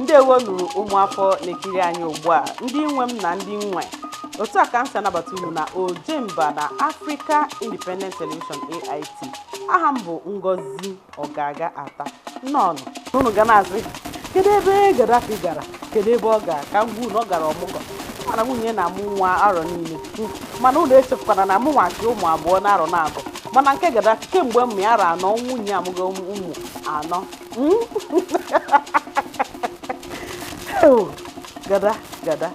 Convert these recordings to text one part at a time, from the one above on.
ndewonu ụmụafọ na-ekiri anyị ugbu a ndị nwe m na ndị m nwe otu a ka m si anabata unu na ojemba na Africa Independent Television AIT aha m bụ Ngozi Ogaga Ata nnọọnụ unu ga na-asị kedu ebe Gaddafi gara kedu ebe ọ gara ka m gwa unu na ọ gara ọmụgwọ mana nwunye na-amụ nwa arọ niile mana unu echekwana na mụ nwachi ụmụ abụọ na arọ na-abụ mana nke Gaddafi kemgbe m ya arọ anọ nwunye amụgo ụmụ anọ hmm? gada gada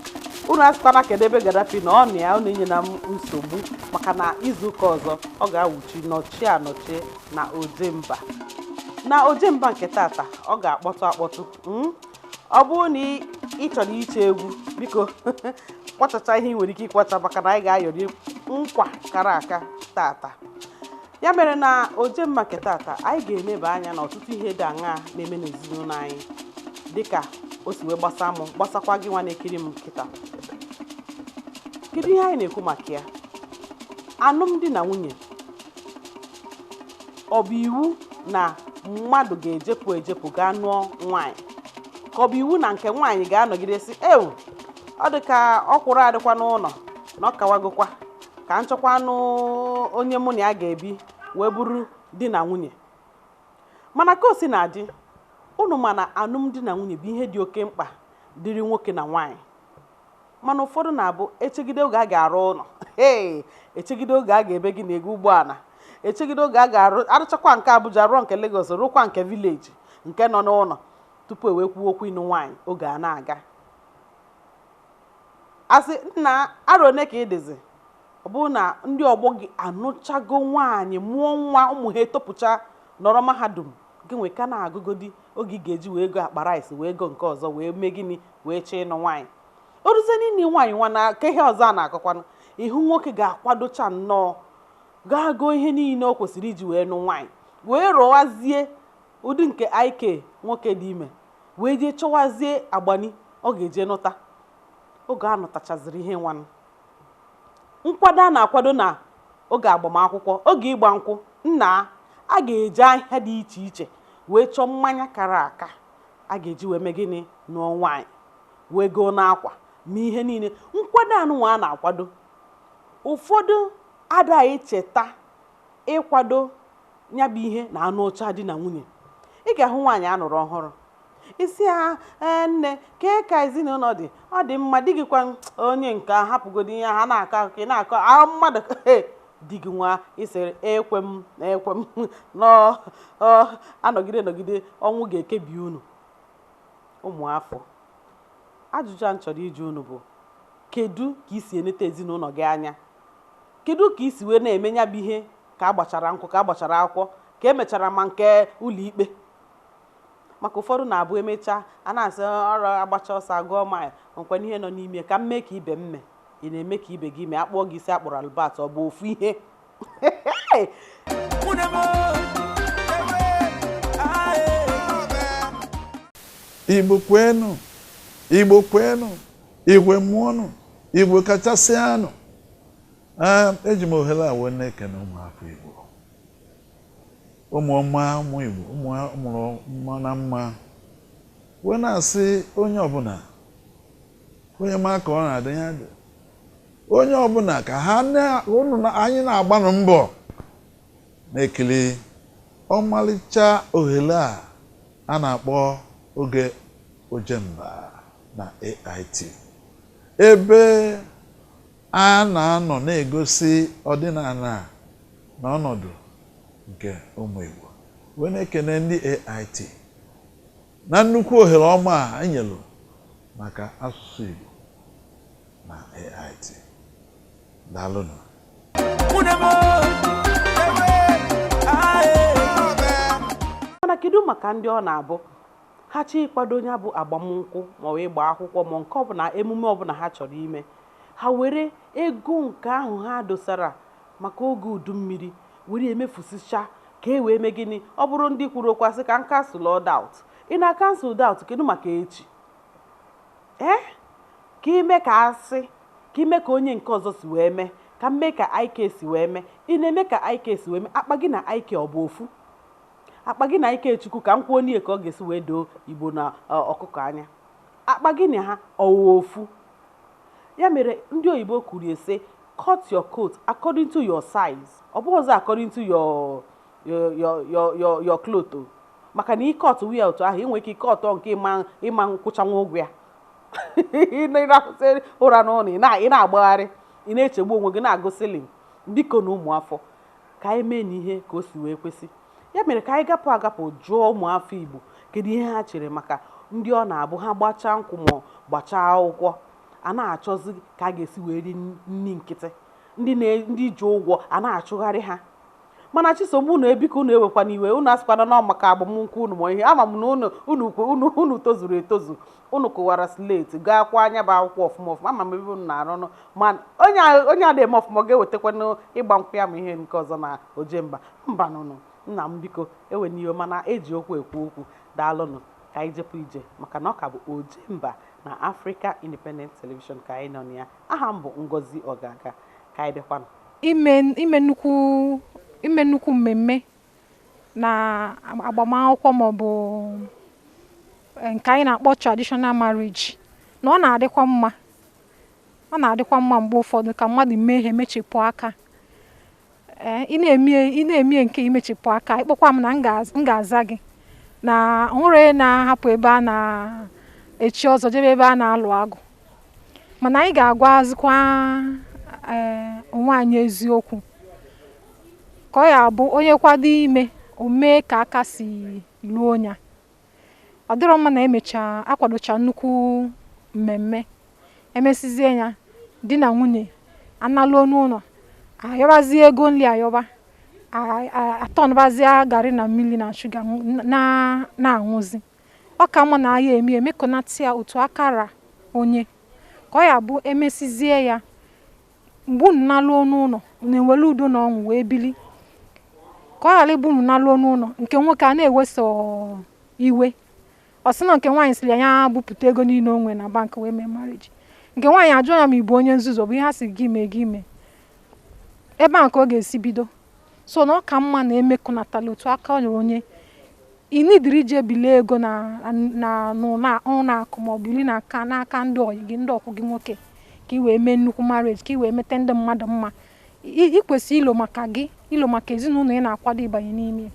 unu asịkwana kedu ebe gadafi nọ na ya unu enyena m nsogbu maka na izuụka ọzọ ọ ga-awụchi nọchie anọchie na ojemba na ojemba nke tata ọ ga-akpọtụ akpọtụ hmm? ọ bụrụ na ị chọrọ ite egwu biko kwachacha ihe ị nwere ike ịkwacha maka na anyị ga-ayọrị nkwa kara aka tata ya mere na ojemba nke tata anyị ga-eneba anya na ọtụtụ ihe dị aṅaa na-eme n'ezinụnọ anyị dịka o si wee gbasa m gbasakwa gị nwa na-ekiri m kịta kedu ihe anyị na-ekwu maka ya anụmdi na nwunye ọ bụ iwu na mmadụ ga-ejepụ ejepụ gaa nụọ nwaanyị ka ọ bụ iwu na nke nwaanyị ga-anọgide sị ewu ọ dị ka ọkwụrụ a dịkwa n'ụnọ na ọ kawagokwa ka m chọkwanụ onye mụ na ya ga-ebi wee bụrụ di na nwunye mana ka o si na-adị unu ma na anụmdi na nwunye bụ ihe dị oke mkpa dịrị nwoke na nwaanyị mana ụfọdụ na-abụ e chegide oge a ga-arụ ụnọ ee e chegide oge a ga-eme gịnị ego ụgbọana e chegide oge a ga-arụ a rụchakwa nke Abuja rụọ nke Lagos rụkwa nke village nke nọ n'ụnọ tupu e wee kwuo okwu ịnụ nwaanyị oge a na-aga A sị, Nna, arọ one ka ị dịzi? Ọ bụrụ na ndị ọgbọ gị anụchago nwaanyị mụọ nwa, ụmụ ha etopụchaa, nọrọ mahadum, gịnwa ị ka na-agụgodi oge ị ga-eji wee go akpa rice, wee go nke ọzọ, wee mee gịnị, wee chọọ ịnụ nwaanyị. O ruzie n'ịnụ nwaanyị nwanụ ka ihe ọzọ a na-akọkwanụ, ị hụ nwoke ga-akwadocha nnọọ, gaa goo ihe niine o kwesịrị iji wee nụ nwaanyị, wee rọwazie ụdị nke IK nwoke dị ime wee jee chọwazie agbani ọ ga-eje nụta oge a nụtachaziri ihe nwanụ nkwado a na-akwado na oge agbamakwụkwọ oge ịgba nkwụ nna a ga-eje ahịa dị iche iche wee chọọ mmanya kara aka a ga-eji wee mee gịnị nụọ nwaanyị wee goo na akwa ma ihe niile nkwado anụnwa a na-akwado ụfọdụ ada echeta ịkwado ya bụ ihe na anụ ọcha di na nwunye ị ga-ahụ nwaanyị a lụrụ ọhụrụ ị sị ya ee nne kee ka ezinụlọ dị ọ dị mma di gị kwa onye nke a hapụgodi ihe ha na-akọ akụkọ ị na-akọ ahụ mmadụ ee di gị nwa ị sịrị ekwe m na ekwe m anọgide nọgide ọnwụ ga-ekebi unu ụmụafọ ajụjụ a m chọrọ ịjụ unu bụ kedu ka i si eneta ezinụlọ gị anya Kedụ ka i si wee na-eme ya bụ ihe ka agbachara nkwụ, ka agbachara akwụkwọ, ka emechara ma nke ụlọikpe? Maka ụfọdụ na-abụ emechaa, a na-asị ọrụ a gbachaa ọsọ a gụọ mile, o nwekwanụ ihe nọ n'ime ya, ka m mee ka ibe m mee, ị na-eme ka ibe gị mee, a kpụọ gị isi a kpụrụ Albert, ọ bụ ofu ihe. Igbo kwenu! Igbo kwenu! Igbo mụọnụ Igbo kachasịanụ Ee, eji m ohere a wee na-ekene ụmụafọ igbo ụmụọma ụmụ igbo ụmụ a mụrụ mma na mma wee na-asị onye ọbụla onye ma ka ọ na-adị ya dị onye ọbụla ka ha na- unu na- anyị na-agbanụ mbọ na-ekiri ọmalịcha ohere a a na-akpọ oge Ojemba na AIT ebe a na-anọ na-egosi ọdịnala na ọnọdụ nke ụmụ Igbo wee na-ekene ndị AIT na nnukwu ohere ọma a e nyelu maka asụsụ Igbo na AIT daalụnụ mana kedu maka ndị ọ na-abụ Ha chọọ ịkwado ya bụ agbamnkwụ maọbụ ịgba akwụkwọ ma nke ọbụla emume ọbụla ha chọrọ ime, ha were ego nke ahụ ha dosara maka oge udummiri were ya mefusichaa ka e wee mee gịnị? Ọ bụrụ ndị kwuru okwu sị ka m cancelụọ doubt. Ị na-acancel doubt, kedụ maka echi? Ee? Ka i mee ka a sị, ka i mee ka onye nke ọzọ si wee mee, ka m mee ka IK si wee mee, ị na-eme ka IK si wee mee, akpa gị na IK ọ bụ ofu? akpa gị na Ikechukwu ka m kwuo n'ihe ka ọ ga-esi wee doo Igbo na ọkụkọ anya akpa gị na ha ọ wụ ofu ya mere ndị oyibo kwuru ya sị cut your coat according to your size ọ bụghị ọzọ according to your your your cloth maka na ị cutụọ ya otu ahụ i nwee ike ị cutụọ nke ị ma-akwụchanwu ụgwọ ya ịrahụsị ụra n'ụlọ ị na-agbagharị ị na-echegbu onwe gị na-agụ ceiling bikonụ ụmụafọ ka anyị mee na ihe ka o si wee kwesị ya mere ka anyị gapụ agapụ jụọ ụmụafọ Igbo kedu ihe ha chere maka ndị ọ na-abụ ha gbachaa nkwụ ma gbachaa akwụkwọ a na-achọzi ka a ga-esi wee ri nri nkịtị ndị ji ụgwọ a na-achụgharị ha mana chisom unu biko unu ewekwana iwe unu asịkwana na maka agbamnkwụ unu ma ihe ama m na unu tozuru etozu Unu kụwara slate, gaakwa nya bụ akwụkwọ ọfụma ọfụma. Ama m ebe unu na-arụ ọrụ, ma onye a onye ada eme ọfụma, ọ ga-ewetakwanụ ịgba nkwụ ya ma ihe nke ọzọ na ojemba? Mbanụ nụ, nna m, biko, ewena iwe, mana e ji okwu ekwu okwu. Daalụ nụ. Ka anyị jepụ ije, maka na ọ ka bụ ojemba na Africa Independent Television ka anyị nọ na ya. Aha m bụ Ngozi Ogaga. Ka anyị bịakwanụ. Ime ime nnukwu ime nnukwu mmemme na agbamakwụkwọ maọbụ eh, nke anyị na-akpọ traditional marriage na ọ na-adịkwa mma ọ na-adịkwa mma mgbe ụfọdụ ka mmadụ mee ihe mechepụ aka eh, ị na-eme nke i mechepụ aka ị kpọkwa m na m ga-aza gị na o nwerọ onye na-ahapụ ebe a na-echi ọzọ jebe ebe a na-alụ agwụ mana anyị ga-agwazikwa eh, onwe anyị eziokwu ka ọ ya-abụ onye kwado ime o mee ka aka si luo ya ọ dịrọ mma na emecha akwadocha nnukwu mmemme emesizie ya di na nwunye analuo n'ụlọ ayọbazie ego nri ayọba atọnbazie garị na mmiri na shuga na-aṅụzi ọ ka mma na a ya-eme emekọnata ya otu aka ra onye ka ọ ya-abụ emesizie ya mgbe unu naluo n'ụlọ unu enwere udo na ọṅụ wee bili ka ọ ghara ịbụ unu naluo n'ụlọ nke nwoke a na-eweso iwe ọ sị na nke nwaanyị siri ya ya bupụta ego niile o nwere na bank wee mee marriage nke nwaanyị ajụọ ya ma ị bụ onye nzuzu ọ bụ ihe ha si gị mee gị mee ebe a ka ọ ga-esi bido so na ọ ka mma na emekọnatala otu aka ra onye inidiri ije bilie ego na na na ụlọ akụ ma ọ bụ biri n'aka n'aka ndị ọyị gị ndị ọkwụ gị nwoke ka ị wee mee nnukwu marriage ka ị wee mete ndị mmadụ mma ị kwesịrị ilo maka gị ilo maka ezinụlọ ị na-akwado ịbanye n'ime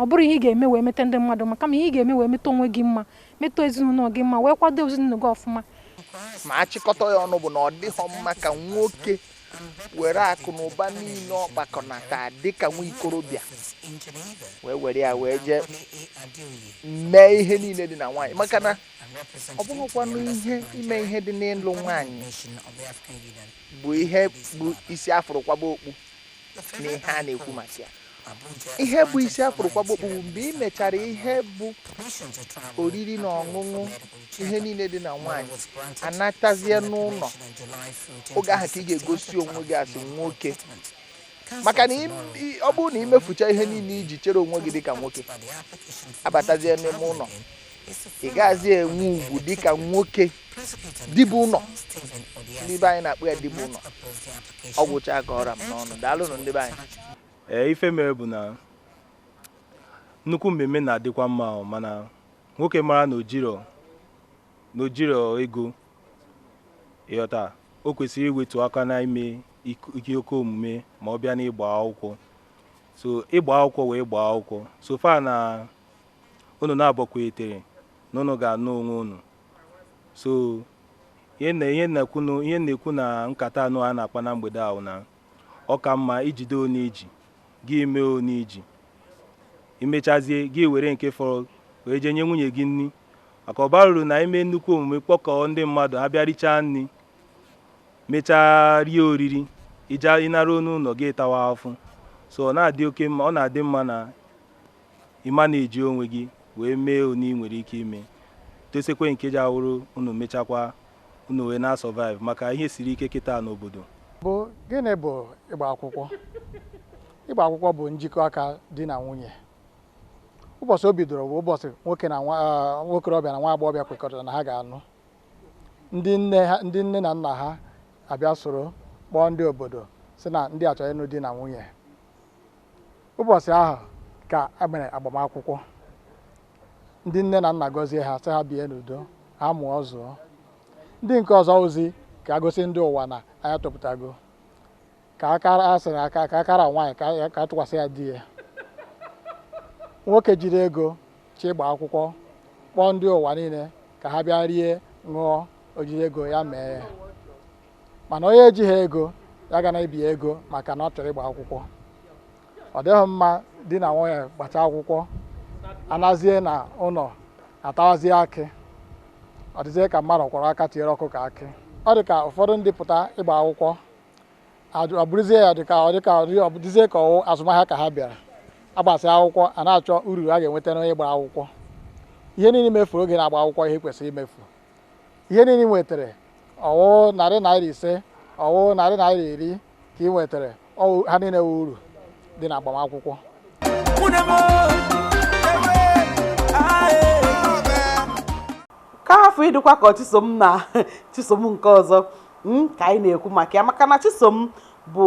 ọ bụrọ ihe ị ga-eme wee mete ndị mmadụ mma kama ihe ị ga-eme wee mete onwe gị mma mete ezinụlọ gị mma wee kwado ezinụlọ gị ọfụma ma a chịkọta ya ọnụ bụ na ọ dịghọ mma ka nwoke were akụ na ụba niile ọ kpakọnata dịka nwa ikorobịa wee were ya wee jee mee ihe niile dị na nwaanyị maka na ọ bụrọkwanụ ihe ime ihe dị n'ịlụ nwaanyị bụ ihe bụ isi a fụrụ kwaba okpu n'ihe a na-ekwu maka ya ihe bụ isi a hụrụ kwaba okpu bụ mgbe ị mechara ihe bụ oriri na ọṅụṅụ ihe niile di na nwaanyị anatazie n'ụlọ oge ahụ ka ị ga-egosi onwe gị as nwoke maka na ọ bụrụ na i mefucha ihe niile i ji chere onwe gị dịka nwoke abatazie n'ime ụlọ ị gaghịzi enwe ugwu dịka nwoke di bụ ụlọ ndị be anyị na-akpọ ya di bụ ụlọ ọ gwụcha ka ọ ra m n'ọnụ daalụnụ ndị be anyị ee ife mere bụ na nnukwu mmemme na-adịkwa mma ahụ mana nwoke mara na o jiro na o jiro ego ị ghọta o kwesịrị iwetu aka na ime ike oke omume ma ọ bịa n'ịgba akwụkwọ so ịgba akwụkwọ wụ ịgba akwụkwọ so far na Unu naabọ kwetere na unu ga-anụ onwe unu. So, ihe na ihe na-ekwu na ihe na-ekwu na nkata anyị na-akpa na mgbede a wụ na ọ ka mma i jide one i ji, gị mee one i ji. I mechazie, gị were nke fọrọ wee jee nye nwunye gị nri. Maka ọ baro uru na i mee nnukwu omume kpọkọọ ndị mmadụ ha bịa richaa nri, mechaa rie oriri, ị ja ị naruo n'ụlọ gị tawa afụfụ. So ọ na-adị oke mma ọ na-adị mma na Ị ma na i ji onwe gị wee mee one i nwere ike ime, dosekwa nke ji ya wụrụ unu mechakwa unu wee na-asurvive maka ihe siri ike kịta n'obodo. Bụ, Gịnị bụ ịgba akwụkwọ? Ịgba akwụkwọ bụ njikọ aka di na nwunye. Ụbọchị o bidoro bụ ụbọchị nwoke na nwa okorobịa na nwa agbọghọbịa kwekọrịtara na ha ga-alụ. Ndị nne ha ndị nne na nna ha abịa soro kpọọ ndị obodo sị na ndị a chọrọ ịlụ di na nwunye. Ụbọchị ahụ ka e mere agbamakwụkwọ. Ndị nne na nna gọzie ha sị ha bie n'udo, ha mụọ zụọ. Ndị nke ọzọ wụzi ka e gosi ndị ụwa na anyị atopụtago. Ka akara a sị na aka ka akara nwaanyị ka ya- ka a tụkwasị ya di ya. Nwoke jiri ego chọọ ịgba akwụkwọ kpọọ ndị ụwa niile ka ha bịa rie, ṅụọ, o jiri ego ya mee ya. mana onye ejighị ego ya ga na-ebi ego maka na ọ chọrọ ịgba akwụkwọ ọ dịghị mma di na nwunye gbacha akwụkwọ anazie na ụlọ atawazie akị ọ dịzie ka mmadụ kwọrọ aka tiere ọkụkọ akị ọ dị ka ụfọdụ ndị pụta ịgba akwụkwọ ọ bụrụzie ya dịka ọ dịka ọ dịzie ka ọ wụ azụmahịa ka ha bịara a gbasịa akwụkwọ a na-achọ uru a ga-enweta n'onye gbara akwụkwọ ihe niile e mefuru oge a na-agba akwụkwọ ihe kwesịrị imefu Ihe niile ị nwetara, ọ wụ narị naira ise, ọ wụ narị naira iri ka ị nwetara, ha niile wụ uru dị na agbamakwụkwọ. ka hafụ ịdịkwa ka chisom na chisom nke ọzọ hmm, ka anyị na-ekwu maka ya maka na chisom bụ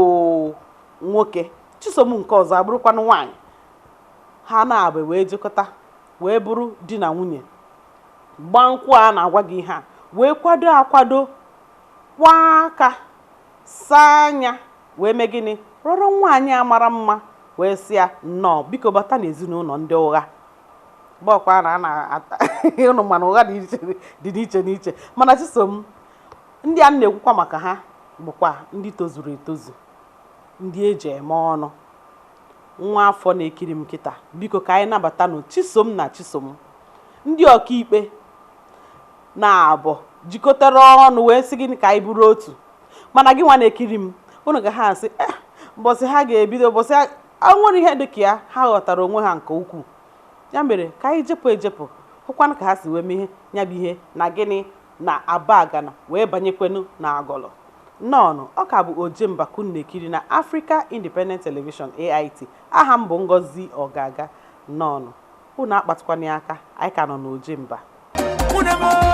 nwoke chisom nke ọzọ abụrụkwanụ nwaanyị ha naabọ wee jikọta wee bụrụ di na nwunye gbaa nkwụ a na-agwa gị ihe a wee kwado akwado kwaa aka saa anya wee mee gịnị rọrọ nwaanyị a mara mma wee sị ya nnọọ biko bata n'ezinụlọ ndị ụgha bụkwa na a na-ata ụnụ mana ụgha dị n'iche n'iche mana chisom ndị a na-ekwukwa maka ha bụkwa ndị tozuru etozu ndị e ji eme ọnụ Nwa afọ na-ekiri m kịta, biko ka anyị nabatanụ Chisom na Chisom. Ndị ọkaikpe naabọ jikọtara ọnụ wee sị gịnị ka anyị bụrụ otu. Mana gịnwa na-ekiri m, unu ga ha asị, eh, mbọsị ha ga-ebido, mbọsị ha o nwere ihe dị ka ya, ha ghọtara onwe ha nke ukwuu. Ya mere, ka anyị jepụ ejepụ, hụkwanụ ka ha si wee mee ya bụ ihe na gịnị na Abagana wee banyekwanụ n'Agụlụ. Nnọọnụ, ọ ka bụ Ojemba ka unu na-ekiri na Africa Independent Television, AIT. Aha m bụ Ngozi Ọgaga. Nnọọnụ. Unu akpatụkwana ya aka, anyị ka nọ n'Ojemba. Mụ na m o.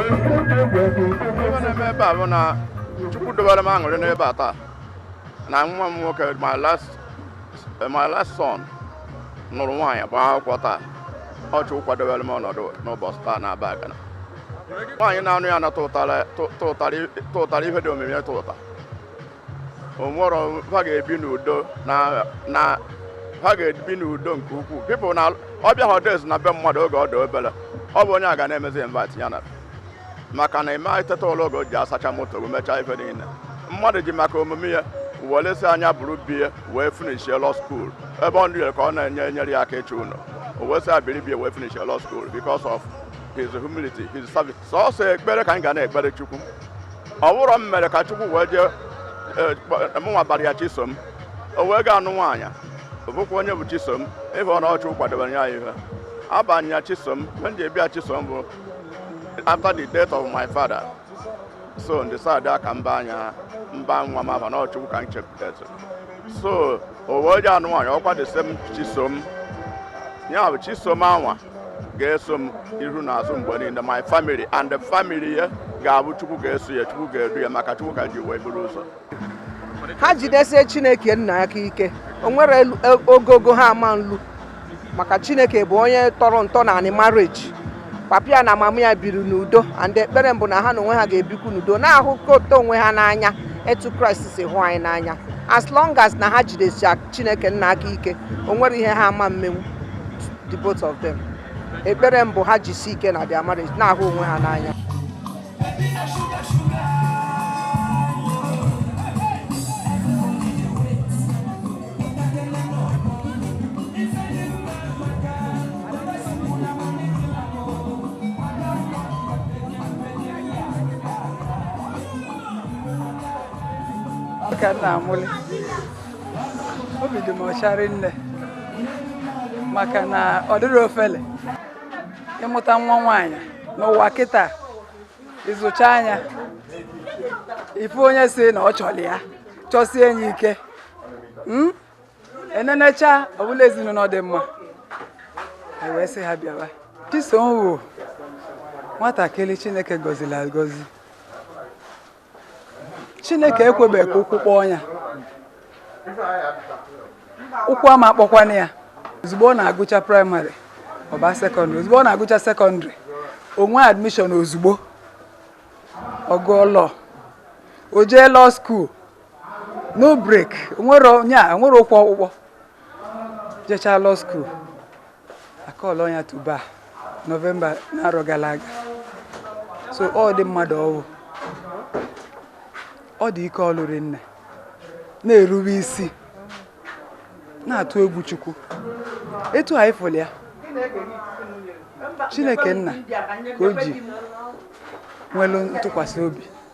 Ife na-eme ebe a bụ na Chukwu dobere m aṅụrị n'ebe a taa na nwa m nwoke my last my last son nụrụ nwaanyị gbaa akwụkwọ taa ọ Chukwu kwadobere m ọnọdụ n'ụbọchị taa na Abagana nwaanyị na-anụ ya na tụtara tụtara ihe dị omimi tụta o nwere ha ga-ebi n'udo na na ha ga-ebi n'udo nke ukwuu because na ọ bịa holidays na be mmadụ oge ọ dị obere ọ bụ onye a ga na-emezi invite ya na maka na ị ma eteta ụla oge o ji asacha moto gị mechaa ife niile mmadụ ji maka omume ya wele sị na ya biri be ya wee finishie law school ebe ọ ndịre ka ọ na-enye enyere ya aka ịchọ ụlọ o wee sị ya biri be ya wee finishie law school because of his humility his service sọsọ ekpere ka anyị ga na-ekpere chukwu ọ bụrọ m mere ka chukwu wee jee eh, kpọ- mụnwa bara ya chisom o wee gaa nụọ nwaanyị ọ bụkwa onye bụ chisom ị hụgo na ọ chukwu kwadobere ya ihe a baa ya chisom ihe m ji aba ya chisom bụ after the death of my father so ndịsadị aka mba anya m baa nwa m afa na ọ chukwu ka m chekwa so oge o ji anụ nwaanyị ọkwa the same chisom ya bụ chisom anwa ga-eso m iru na azụ mgbe niile my family and the family ya ga-abụ chukwu ga-eso ya chukwu ga-edu ya maka chukwu ka ha ji wee buru ụzọ ha jidesie chineke nna aka ike o nwerọ elu- e- ogogo ha ama nlu maka chineke bụ onye tọrọ ntọ n'anị marriage papa ya na mama ya biri n'udo and ekpere m bụ na ha na onwe ha ga-ebikwu n'udo na-ahụkọta onwe ha n'anya etu kraịst si hụ anyị n'anya as long as na ha jidesi chineke nna aka ike o nwerọ ihe ha ama mmenwu the both of them ekpere m bụ ha jisi ike na their marriage na-ahụ onwe ha n'anya ka m na-aṅụlị obi dị m ọcha rinne maka na ọ dịrọ ofele ịmụta nwa nwaanyị n'ụwa kịta ị zụchaa nya ị fụ onye sị na ọ chọrọ ya chọsie nya ike hmm? e nenechaa ọ bụlụ ezinụlọ dị mma anyị wee sị ha bịawa chisom wụ nwatakịrị chineke gọziri agọzi chineke ekwebeghị ka ụkwụ kpọọ ya ụkwụ ama akpọkwanụ ya ozugbo ọ na-agụcha primary ọ baa secondary ozugbo ọ na-agụcha secondary o nwee admission ozugbo ọ gụọ law o jee law school no break nwere onye o nwerọ ụkwụ ọkpụkpọ jechaa law school a kpọlọ ya to bar november n'arọ gara aga so ụdị mmadụ ọ wụ ọ dị ike ọlụ rinne na-erube isi na-atụ egwu chukwu etu anyị fụrụ ya chineke nna ka o ji nwelu ntụkwasị obi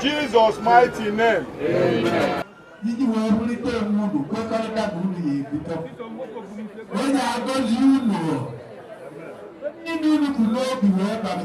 Jesus mighty name. Amen. iji wee wulite onwe unu kwekọrịta na unu ya-ebikọ ọ ya-agọzi unu ndị unu kwuru n'obi wee bara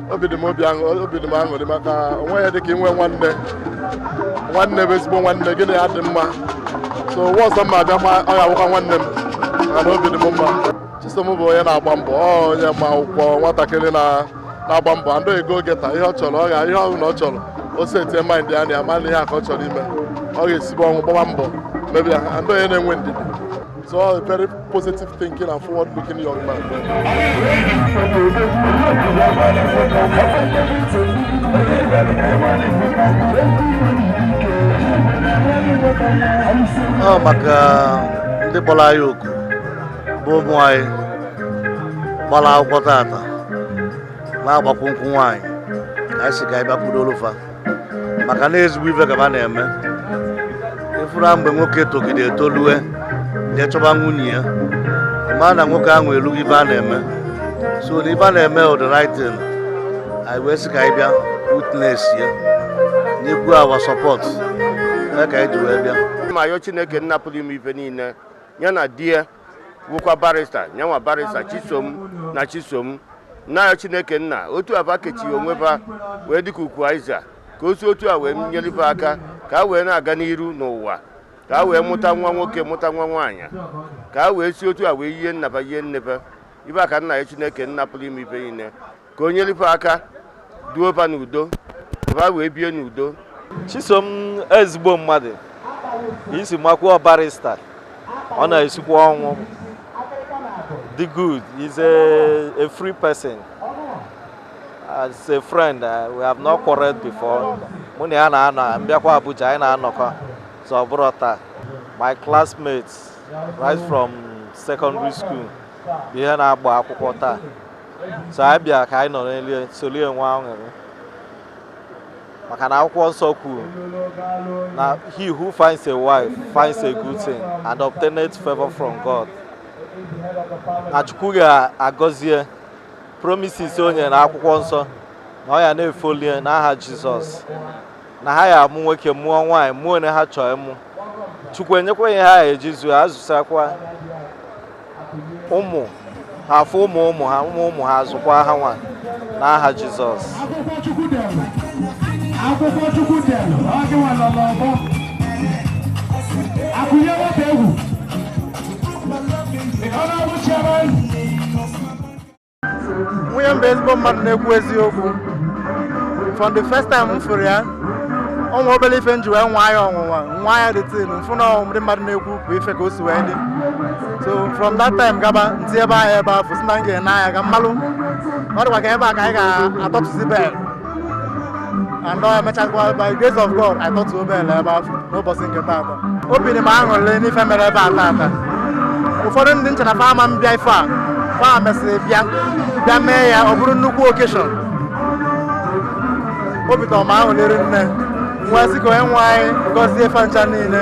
obi dị m obi aṅụ- obi dị m aṅụrị maka o nweghị ihe dịka inwe nwanne nwanne bụ ezigbo nwanne gị na ya dị mma so ụwa ọzọ m ma-abịa ma ọ ga-awụkwa nwanne m mana obi dị m mma chisom bụ onye na-agba mbọ ọ onye ma akwụkwọ nwatakịrị na na-agba mbọ and go-getter ihe ọ chọrọ ọ ga ihe ọ bụla ọ chọrọ o setie mind ya na ya ma na ihe a ka ọ chọrọ ime ọ ga-esibe ọnwụ gbaba mbọ mee ya and onye na-enwe ndidi so ọ very positive thinking and forward looking young man. ọ maka ndị kpọrọ anyị oku bụ ụmụ anyị gbara akwụkwọ tata na-agbakwu nkwụ nwaanyị ka anyị sị ka anyị bịa kwudoolu fa maka na ezigbo ife ka ha na-eme ịfụra mgbe nwoke togide etolue jee chọba nwunye ya ma na nwoke ahụ elugo ife a na-eme so na ife a na-eme the right thing anyị wee sị ka anyị bịa witness ya nyekwua fa support ka anyị ji wee bịa ma yọọ chineke nna pụrụ ime ife niile ya na di ya wụkwa barrister nya nwa barrister chisom na chisom na-ayọ chineke nna otu a fa kechie onwe fa wee dịka ukwu aịza ka o si otu a wee nyere fa aka ka a wee na-aga n'iru n'ụwa ka a wee mụta nwa nwoke mụta nwa nwaanyị ka a wee si otu a wee yie nna fa yie nne fa ife a ka m na-ayọ chineke nna pụrụ ime ife niile ka o nyere fa aka duo fa n'udo ka fa wee bie n'udo chisom ezigbo mmadụ isi makwuo barrister ọ na-esikwa ọnwụ dị good he's a, a free person as a friend uh, we have not quarreled before mụ na ya na-anọ m bịakwa abuja anyị na-anọkọ so ọ bụrụ taa my classmate right from secondary school bụ onye na-agba akwụkwọ taa so anyị bịa ka anyị nọnyelu ya, soro ya nwee aṅụrị maka na akwụkwọ nsọ kwuru na he who finds a wife finds a good thing and obtaineth favor from God na Chukwu ga-agọzi ya promises o nyere na akwụkwọ nsọ na ọ ya na-efollow ya n'aha Jizọs na ha ya amụ nwoke mụọ nwaanyị mụọ onye ha chọọ ịmụ chukwu enyekwa ha ihe ha eji zụọ ha zụsakwa ụmụ ha afụ ụmụ ụmụ ha ụmụ ụmụ ha azụkwa ha nwa na aha jizọs akwụkwọ chukwu dere akwụkwọ chukwu dere ọ gị nwa nọ n'ọgbọ akụnye nwata egwu ọ na-abụ chiara nwunye m bụ ezigbo mmadụ na-ekwu eziokwu from the first time m fụrụ ya o nwe obere ife m ji wee nwaa ya ọnwụnwa nwaa ya the thing m fụ na ọ wụ ndị mmadụ na-ekwu bụ ife ka o si wee dị so from that time gaba m si ebe ahụ ebe afụ sị na m ga-ene anya ka m malụ ọ dịkwa ka ebe a ka anyị ga-atọpụzi bel and emechakwa by grace of God I tọtuo bel ebe afụ n'ụbọchị nke taata obi dị m aṅụrị n'ife mere ebe a taata ụfọdụ ndị m che na fa ama abịa ife a fa mesịrị bịa bịa mee ya ọ bụrụ nnukwu occasion obi tọrọ m aṅụrị m wee sị ka onye nwe anyị gọzie fa ncha niile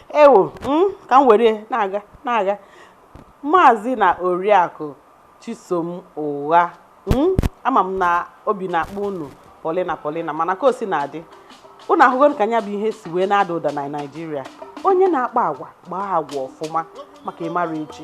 ewo hmm, ka m were na-aga na-aga maazị na oriakụ chisom ụgha hmm, ama m na obi na-akpọ unu polina polina mana ka o si na-adị unu ahụgo ka nya bụ ihe si wee na-ada ụda na naijiria onye na-akpa agwa kpaa agwa ọfụma maka ịmara echi